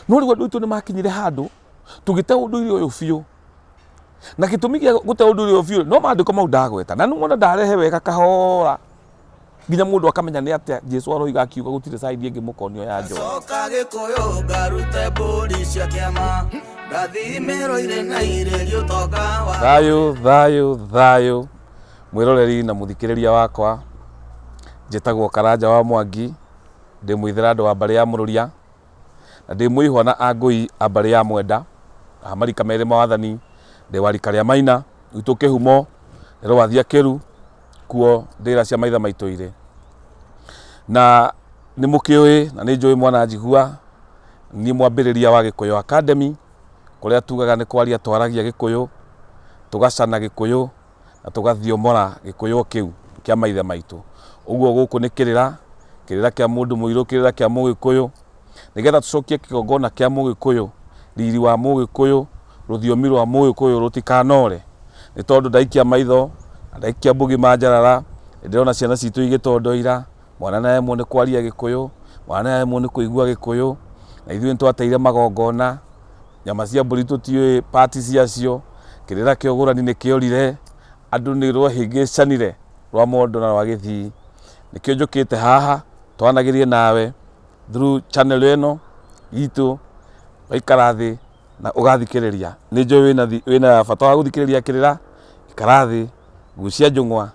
no rĩu andũ aitũ nĩ makinyire handũ tũgĩte ũndũire ũyũ biũ na gĩtũmi gĩa gũte ũndũire ũyũ biũ no maandĩko mau ndagweta na nĩwona ndarehe wega kahora nginya mũndũ akamenya nĩ atĩa jesu aroiga akiuga gũtirĩ caidi ĩngĩ mũkonio ya njohi coka gĩkũyũ ngarute mbũri cia kĩama ndathimĩrwo irĩ na irĩri ũtonga wa thayå thayå thayå mwäroreri na må thikä rä ria wakwa njätagwo karanja wa mwangi ndä mwithera andå wa mbarä ya må rå ria Na ndĩ mwĩhwa na angũi a mbarĩ ya mwenda, a marika merĩ ma wathani, ndĩ wa rika rĩa maina, gwitũ kĩhumo nĩ rũwathia kĩru, kuo ndĩra cia maithe maitũ irĩ. Na nĩ mũkĩũĩ na nĩ njũĩ mwana njigua, niĩ mwambĩrĩria wa Gĩkũyũ Academy, kũrĩa tugaga nĩ kwaria twaragia Gĩkũyũ, tũgacana Gĩkũyũ. na tũgathiomora gĩkũyũ kĩu kĩa maithe maitũ. Ũguo gũkũ nĩ kĩrĩra, kĩrĩra kĩa mũndũ mũirũ, kĩrĩra kĩa mũgĩkũyũ, nĩgetha tũcokie kĩgongona kĩa mũgĩkũyũ, riri wa mũgĩkũyũ, rũthiomi rwa mũgĩkũyũ rũtikanore. Nĩ tondũ ndaikia maitho, na ndaikia mbugi manjarara, nĩ ndĩrona ciana citũ igĩtondoira, mwana nĩ aremwo nĩ kwaria gĩkũyũ, mwana nĩ aremwo nĩ kũigua gĩkũyũ, na ithuĩ nĩ twateire magongona. Nyama cia mbũri tũtiũĩ part ciacio, kĩrĩra kĩa ũgũrani nĩ kĩorire, andũ nĩ rwahĩngĩcanire rwa mondo na rwa gĩthii. Nĩkĩo njũkĩte haha twaranagĩrie nawe through channel ĩno itũ, waikara thĩ na ũgathikĩrĩria. Nĩ njũĩ wĩna bata wa gũthikĩrĩria kĩrĩra, ikara thĩ. gucia njũng'wa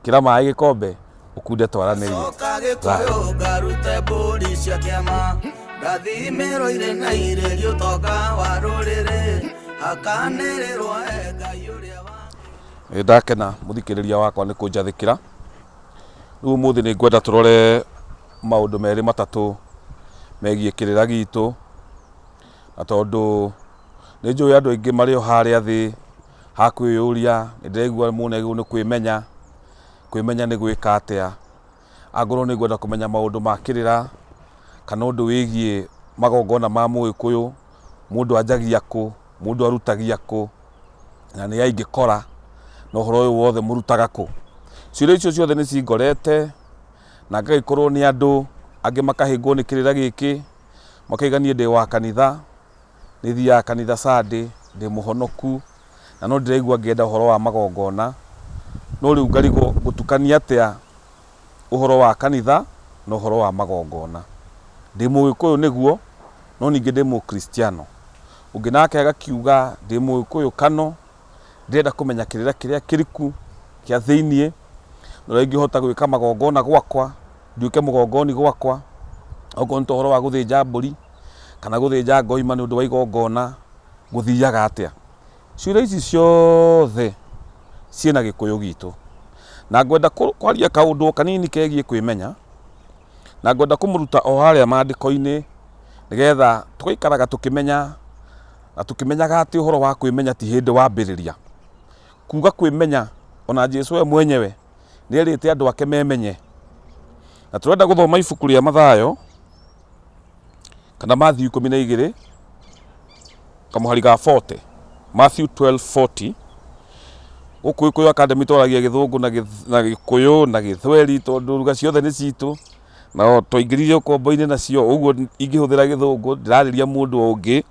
kĩra maĩ gĩkombe ũkunde twaranĩrie coka gĩkũyũ ngarute mbũri cia kĩama ndathimĩro irĩ na irĩ gĩũtonga wa rũrĩrĩ hakanĩrĩrwo e ngai ũrĩa wa Nĩ ndakena mũthikĩrĩria wakwa nĩ kũnjathĩkĩra rĩu ũmũthĩ nĩ ngwenda tũrore maũndũ merĩ matatũ megiĩ kĩrĩra gitũ na tondũ nĩ njũĩ andũ aingĩ marĩ o harĩa thĩ ha kwĩyũria, nĩ ndĩraigua mũndũ nĩ agĩrĩirwo nĩ kwĩmenya, kwĩmenya nĩ gwĩka atĩa, angorwo nĩ ngwenda kũmenya maũndũ ma kĩrĩra, kana ũndũ wĩgiĩ magongona ma mũgĩkũyũ, mũndũ anjagia kũ, mũndũ arutagia kũ, na nĩ a ingĩkora, na ũhoro ũyũ wothe mũrutaga kũ. Ciũria icio ciothe nĩ cingorete, na ngagĩkorwo nĩ andũ, angĩ makahĩngwo nĩ kĩrĩra gĩkĩ, makauga niĩ ndĩ wa kanitha. Nĩ thiaga kanitha Sunday, ndĩ mũhonoku, na no ndĩraigua ngĩenda ũhoro wa magongona, no rĩu ngarigwo ngũtukania atĩa ũhoro wa kanitha na ũhoro wa magongona. Ndĩ mũgĩkũyũ nĩguo, no ningĩ ndĩ mũkristiano. Ũngĩ nake agakiuga, ndĩ mũgĩkũyũ kano. Ndĩrenda kũmenya kĩrĩra kĩrĩa kĩriku kĩa thĩiniĩ, na ũrĩa ingĩhota gwĩka magongona gwakwa, nduĩke mũgongoni gwakwa, okorwo nĩ ta ũhoro wa gũthĩnja mbũri, kana gũthĩnja ngoima nĩ ũndũ wa igongona, gũthiaga atĩa. Ciũria ici ciothe ciĩna gĩkũyũ gitũ. Na ngwenda kwaria kaũndũ o kanini kegiĩ kwĩmenya, na ngwenda kũmũruta o harĩa maandĩko-inĩ, nĩgetha tũgaikaraga tũkĩmenya. Na tũkĩmenyaga atĩ ũhoro wa kwĩmenya ti hĩndĩ wambĩrĩria. Kuuga kwĩmenya, o na Jesu we mwenyewe nĩ erĩte andũ ake memenye. Na tũrenda gũthoma ibuku rĩa Mathayo, kana Matthew ikũmi na igĩrĩ, kamũhari ga 40. Matthew 12:40. Gũkũ Gĩkũyũ Academy twaragia Gĩthũngũ na Gĩth- na Gĩkũyũ na Gĩthweri tondũ lugha ciothe nĩ citũ. Na o twaingĩrire ũkombo-inĩ nacio, ũguo ingĩhũthĩra Gĩthũngũ, ndirarĩria mũndũ o ũngĩ.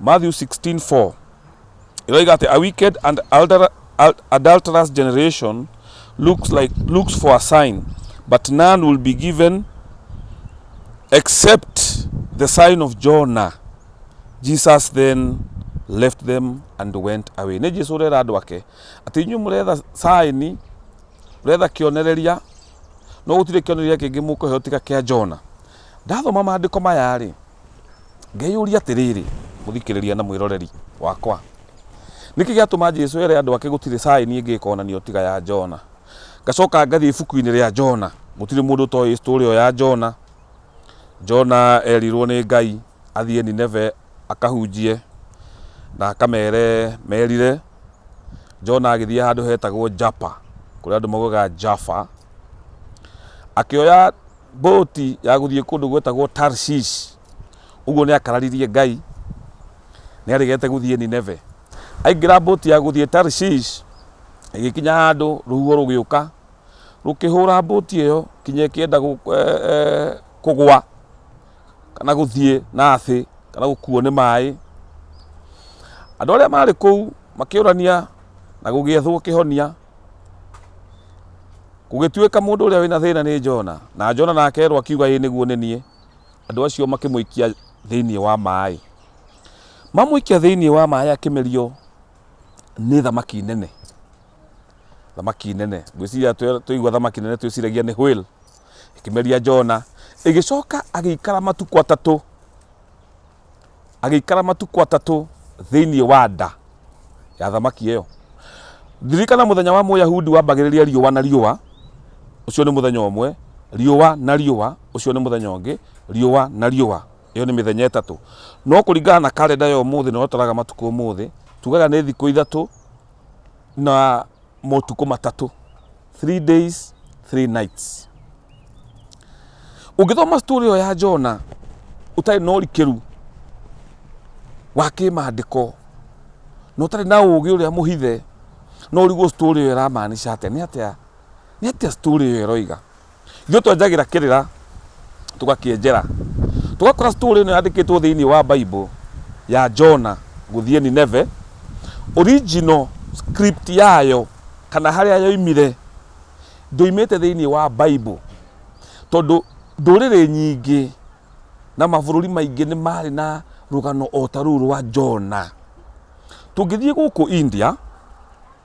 Matthew 16 4 ĩroiga atĩ a wicked and alter- al- adulterous generation looks like looks for a sign but none will be given except the sign of Jonah Jesus then left them and went away nĩ Jesu ũrera andũ ake atĩ inyuĩ mũretha sign ũretha kĩonereria no gũtirĩ kĩonereria kĩngĩ mũkũheo tiga kĩa Jona ndathoma maandĩko maya rĩ Ngeyũria atĩrĩrĩ, mũthikĩrĩria na mwĩroreri wakwa, nĩkĩ gĩatũma Jesu ere andũ ake gũtirĩ caĩni ĩngĩ ĩkonanio tiga ya Jona? Ngacoka ngathiĩ ibuku-inĩ rĩa Jona, gũtirĩ mũndũ ũtoĩ story ĩyo ya Jona. Jona erirwo nĩ Ngai athiĩ Nineve akahunjie na akamere merire. Jona agĩthiĩ handũ hetagwo Japa, kũrĩa andũ maugaga Jaffa, akĩoya mbũti ya gũthiĩ kũndũ gwetagwo tarshish ũguo nĩ akararirie ngai nĩ arĩgete gũthiĩ nineve aingĩra mbũti ya gũthiĩ tarshish ĩgĩkinya handũ rũhuho rũgĩũka rũkĩhũra mbũti ĩyo kinya ĩkĩenda gũ- eh, eh, kũgwa kana gũthiĩ na thĩ kana gũkuo nĩ maĩ andå arä a marä kå u makä å rania na gå gä ethwo kä honia Gũgĩtuĩka mũndũ ũrĩa wĩna thĩna nĩ Jona, na Jona nake erwo akiuga ĩĩ nĩguo nĩ niĩ, andũ acio makĩmũikia thĩinĩ wa maĩ. Mamũikia thĩinĩ wa maĩ akĩmerio nĩ thamaki nene. Thamaki nene, ngwĩciria tũigua thamaki nene twĩciragia nĩ whale. Ĩkĩmeria Jona, ĩgĩcoka agĩikara matukũ atatũ agĩikara matukũ atatũ thĩinĩ wa nda ya thamaki ĩyo. Ririkana mũthenya wa Mũyahudi wambagĩrĩria riũa na riũa, ũcio nĩ mũthenya ũmwe, riũa na riũa, ũcio nĩ mũthenya ũngĩ, riũa na riũa. Ĩyo nĩ mĩthenya ĩtatũ. No kũringana na karenda ya ũmũthĩ na ũrĩa tũraga matukũ ũmũthĩ, tugaga nĩ thikũ ithatũ, na motukũ matatũ three days three nights ũngĩthoma story ĩyo ya jona ũtarĩ na ũrikĩru wa kĩmandĩko na ũtarĩ na ũũgĩ ũrĩa mũhithe no ũrigwo story ĩyo ĩramaanisha atĩa nĩ atĩa nĩ atĩa story ĩyo ĩroiga Ithuĩ twenjagĩra kĩrĩra tũgakĩenjera. Tũgakora story ĩno yandĩkĩtwo thĩinĩ wa Bible ya Jona gũthiĩ Nineve, original script yayo kana harĩa yoimire ndũimĩte thĩinĩ wa Bible tondũ ndũrĩrĩ nyingĩ na mabũrũri maingĩ nĩ marĩ na rũgano o ta rũu rwa Jona. Tũngĩthiĩ gũkũ India,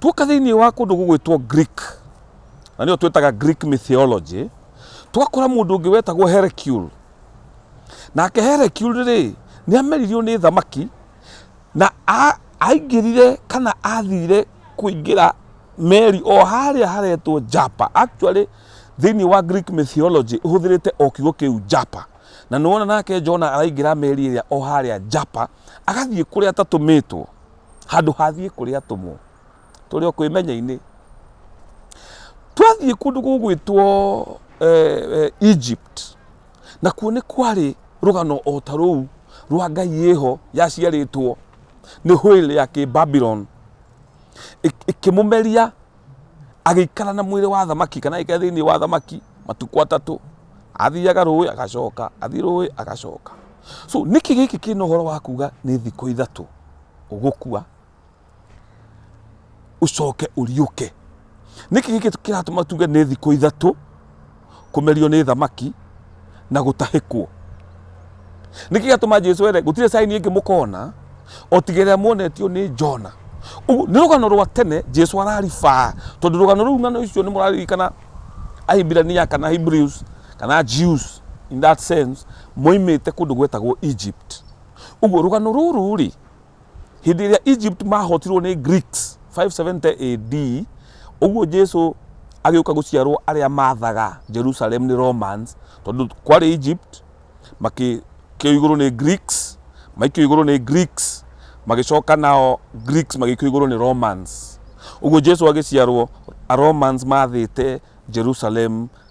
tuoka thĩinĩ wa kũndũ gũgwĩtwo greek na nĩyo twĩtaga greek mythology twakora mũndũ ũngĩ wetagwo hercule nake hercule rĩ nĩ ameririo nĩ thamaki na a- aingĩrire kana athire kũingĩra meri o harĩa haretwo japa actually thĩinĩ wa greek mythology ũhũthĩrĩte o kiugo kĩu japa na nĩwona nake jona araingĩra meri ĩrĩa o harĩa japa agathiĩ kũrĩa tatũmĩtwo handũ hathiĩ kũrĩ atũmwo tũrĩ o kwĩmenya-inĩ twathiĩ kũndũ gũgwĩtwo eh, eh, egypt na kuo nĩ kwarĩ rũgano o ta rũu rwa ngai ĩho yaciarĩtwo nĩ hũĩrĩ ya kĩbabilon ĩkĩmũmeria agĩikara na mwĩrĩ wa thamaki kana agĩikara thĩinĩ wa thamaki matukũ atatũ athiaga rũĩ agacoka athiĩ rũĩ agacoka so nĩkĩ gĩkĩ kĩna ũhoro wa kuga nĩ thikũ ithatũ ũgũkua ũcoke ũriũke nĩkĩ gĩkĩ kĩratũma tuge nĩ thikũ ithatũ kũmerio nĩ thamaki na gũtahĩkwo nĩkĩ gatũma jesu ere gũtirĩ caini ĩngĩ mũkona otigĩrĩra muonetio nĩ jona Ũguo, nĩ rũgano rwa tene jesu araribaa tondũ rũgano rũu ng'ano icio nĩ mũraririkana ahibirania kana hebrews kana jews in that sense moimĩte kũndũ gwetagwo egypt Ũguo rũgano rũrũ rĩ hĩndĩ ĩrĩa egypt mahotirwo nĩ greeks 570 ad ũguo jesu agĩũka gũciarwo arĩa mathaga jerusalem nĩ romans tondũ kwarĩ egypt makĩkĩo igũrũ nĩ greeks maikio igũrũ nĩ greeks magĩcoka nao greeks magĩikio igũrũ nĩ romans ũguo jesu agĩciarwo a romans mathĩte jerusalem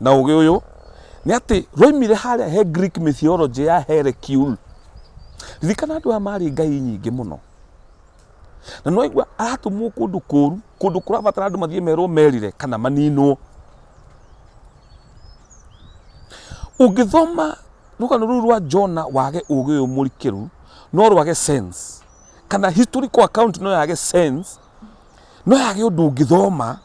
na ũgĩ ũyũ nĩ atĩ rwaimire harĩa he Greek mythology ya Hercule. Ririkana andũ aya marĩ ngai nyingĩ mũno na no aigua aratũmwo kũndũ kũru kũndũ kũrabatara andũ mathiĩ merwo merire kana maninwo ũngĩthoma rũgano rũu rwa jona wage ũgĩ ũyũ mũrikĩru no rwage sense kana historical account no yage sense no yage ũndũ ũngĩthoma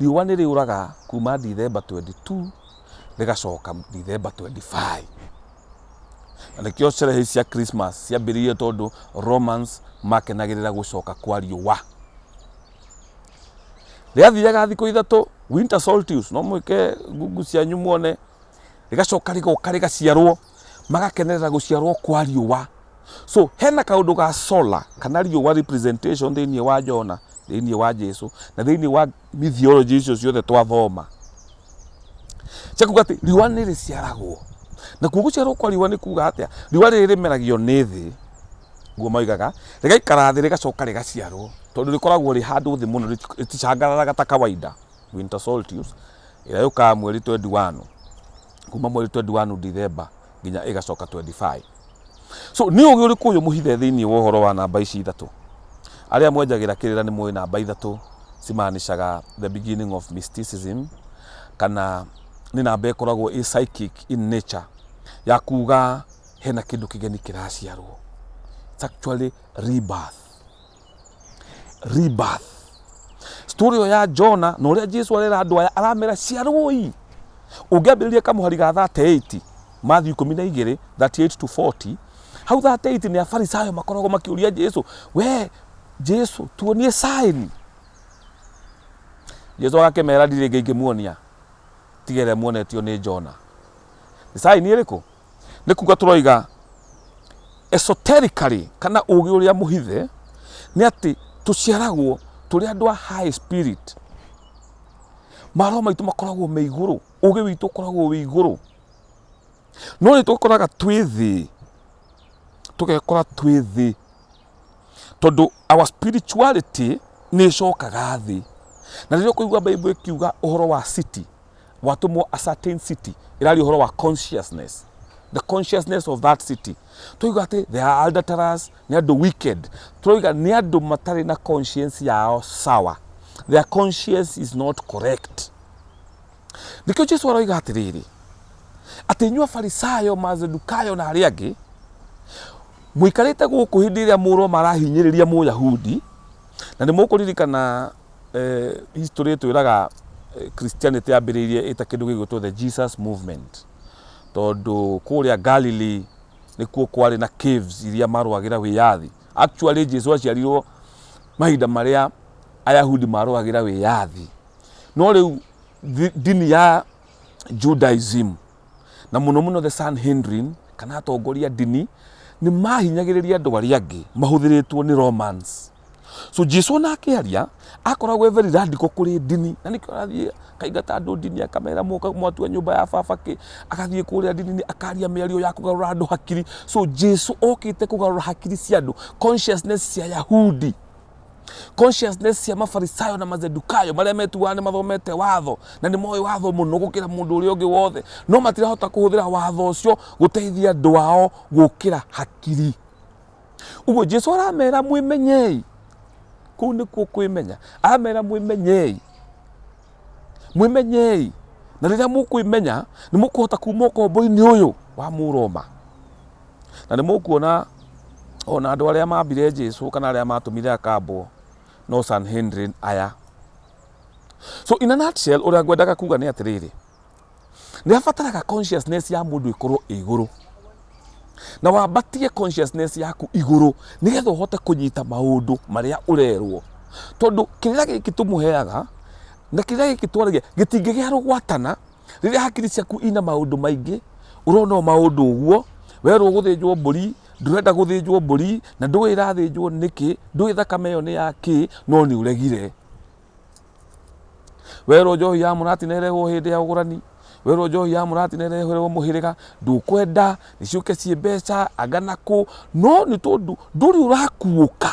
Riũa nĩ rĩũraga kuma Dithemba 22 rĩgacoka Dithemba 25. Na nĩkĩo sherehe ici cia Christmas ciambĩrĩirie tondũ Romans makenagĩrĩra gũcoka kwa riũa. Rĩathiaga thikũ ithatũ, winter solstice, no mwĩke ngungu cianyu muone, rĩgacoka rĩgoka rĩgaciarwo. magakenerera gũciarwo kwa riũa so hena kaũndũ ga solar kana riũa representation thĩinĩ wa jona thĩinĩ wa jesu na thĩinĩ wa mythology icio ciothe twathoma cia kuga atĩ riũa nĩ rĩciaragwo na kuo gũciarwo kwa riũa nĩ kuga atĩa riũa rĩrĩ rĩmeragio nĩ thĩ guo moigaga rĩgaikara thĩ rĩgacoka rĩgaciarwo tondũ rĩkoragwo rĩ handũ thĩ mũno rĩti- rĩticangararaga ta kawaida winter solstice ĩrĩa yũkaga mweri 21 kuma mweri 21 Dithemba nginya ĩgacoka 25 so nĩ ũgĩ ũrĩkũ ũyũ mũhithe thĩinĩ wa ũhoro wa namba ici ithatũ arĩa mwenjagĩra kĩrĩra nĩ mũĩ namba ithatũ cimaanicaga the beginning of mysticism kana nĩ namba ĩkoragwo ĩ psychic in nature ya kuga hena kĩndũ kĩgeni kĩraciarwo It's actually rebirth Rebirth. Story ĩyo ya Jona na ũrĩa Jesu arera andũ aya aramera ciarũi. Ũngĩambĩrĩria kamũhari ga 38 Matthew 12 38 to 40 hau 38 nĩ afarisayo makoragwo makĩũria Jesu we Jesu tuonie sign. Jesu agakĩmera ndirĩ ngĩ ingĩmuonia tigere muonetio nĩ Jona. Nĩ sign ĩrĩkũ? nĩ kuga tũroiga esoterically kana ũgĩ ũrĩa mũhithe nĩ atĩ tũciaragwo tũrĩ andũ a high spirit maro maitũ makoragwo me igũrũ ũgĩ witũ ũkoragwo wĩ igũrũ no nĩ tũkoraga twĩ thĩ tũgekora twĩ thĩ tondũ our spirituality nĩ ĩcokaga thĩ na rĩrĩa ũkũigua bible ĩkiuga ũhoro wa city watũmwo a certain city ĩraria ũhoro wa consciousness the consciousness of that city tũiga atĩ they are adulterers nĩ andũ wicked tũroiga nĩ andũ matarĩ na conscience yao sawa their conscience is not correct nĩkĩo jesu aroiga atĩrĩrĩ atĩ inyuĩ afarisayo mazedukayo na arĩa angĩ mũikarĩte gũkũ hĩndĩ ĩrĩa mũroma arahinyĩrĩria mũyahudi na nĩ mũkũririkana Eh, history twiraga eh, christianity yambiriirie ita kindu gigwitwo the jesus movement tondu kuria galilee nikuo kwari na caves iria marwagira wiyathi actually jesu aciarirwo mahinda maria ayahudi marwagira wiyathi no riu thi- ndini ya judaism na mũno mũno the Sanhedrin kana atongoria ndini nĩ mahinyagĩrĩria andũ arĩa angĩ mahũthĩrĩtwo nĩ Romans so Jesu ona akĩaria akoragwo e very radical kũrĩ ndini na nĩkĩo arathiĩ akaingata andũ ndini akamera mũka mwatua nyũmba ya baba kĩ agathiĩ kũrĩa ndini akaria mĩario ya kũgarũra andũ hakiri so Jesu okĩte kũgarũra hakiri cia andũ consciousness cia Yahudi consciousness cia mafarisayo na mazedukayo marĩa metuaga nĩ mathomete watho na nĩ moĩ watho mũno gũkĩra mũndũ ũrĩa ũngĩ wothe no matirahota kũhũthĩra watho ũcio gũteithia andũ ao gũkĩra hakiri ũguo jesu aramera mwĩmenyei kũu nĩkuo kwĩmenya aramera mwĩmenyei mwĩmenyei na rĩrĩa mũkwĩmenya nĩ mũkũhota kuma ũkombo-inĩ ũyũ wa mũroma Na nĩ mũkuona o na andũ arĩa mambire Jesu kana arĩa matũmire akambwo no Sanhedrin aya. So in a nutshell, ũrĩa ngwendaga kuga nĩ atĩrĩrĩ, nĩ abataraga consciousness ya mũndũ ĩkorwo ĩ igũrũ na wambatie consciousness yaku igũrũ nĩgetha ũhote kũnyita maũndũ marĩa ũrerwo tondũ kĩrĩa gĩkĩ tũmũheaga na kĩrĩa gĩkĩ twaragia gĩtingĩgĩa rũgwatana rĩrĩa hakiri ciaku ina maũndũ maingĩ ũrona o maũndũ ũguo werwo gũthĩnjwo mbũri ndũrenda gũthĩnjwo mbũri na ndũĩ ĩrathĩnjwo nĩkĩ ndũĩ thakame ĩyo nĩ ya kĩ no nĩ ũregire werwo njohi ya mũrati na ĩrehwo hĩndĩ ya ũgũrani werwo njohi ya mũrati na ĩreherwo mũhĩrĩga ndũkwenda nĩciũke ciĩ mbeca anga nakũ no nĩ tondũ ndũrĩ ũrakuũka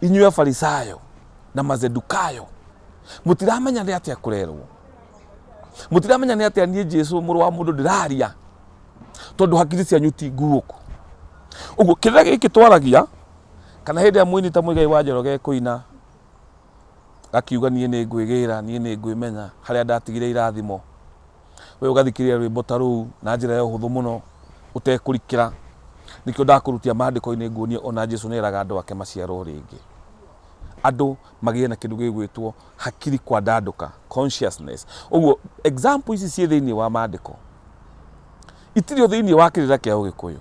inyuĩ afarisayo na mazedukayo mũtiramenya nĩ atĩa kũrerwo mũtiramenya nĩ atĩa niĩ jesu mũrũ wa mũndũ ndĩraria tondũ hakiri cianyu ti nguũku ũguo kĩrĩa gĩkĩ twaragia kana hĩndĩ ĩrĩa mũini ta mũigai wa njoroge kũina gakiuga niĩ nĩ ngwĩgĩra niĩ nĩ ngwĩmenya harĩa ndatigire irathimo we ũgathikĩrĩria rwĩmbo ta rũu na njĩra ya ũhũthũ mũno ũtekũrikĩra nĩkĩo ndakũrutia maandĩko-inĩ nguonie ona jesu nĩ eraga andũ ake maciarwo rĩngĩ andũ magĩe na kĩndũ gĩgwĩtwo hakiri kwa ndandũka consciousness ũguo example ici ciĩ thĩinĩ wa maandĩko itirĩ thĩinĩ wa kĩrĩra kĩa ũgĩkũyũ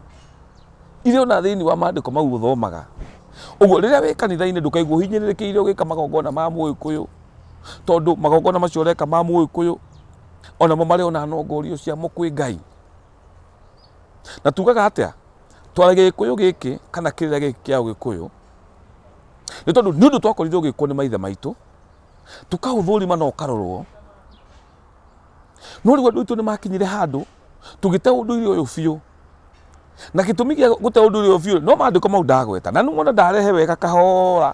irĩ ona thĩinĩ wa maandĩko mau ũthomaga ũguo rĩrĩa wĩ kanitha-inĩ ndũkaigua ũhinyĩrĩrĩkĩire ũgĩka magongona ma mũgĩkũyũ tondũ magongona macio ũreka ma mũgĩkũyũ onamo marĩ ona nongorio ciamo kwĩ ngai na tugaga atĩa twara gĩkũyũ gĩkĩ kana kĩrĩra gĩkĩ kĩa ũgĩkũyũ nĩ tondũ nĩ ũndũ twakorirwo gĩkwo nĩ maithe maitũ tũkahũthũrima na ũkarorwo no rĩu andũ aitũ nĩ makinyire handũ tũgĩte ũndũire ũyũ biũ na gĩtũmi gĩa gũte ũndũire ũyũ biũ no mandĩko mau ndagweta na nĩmona ndarehe wega kahora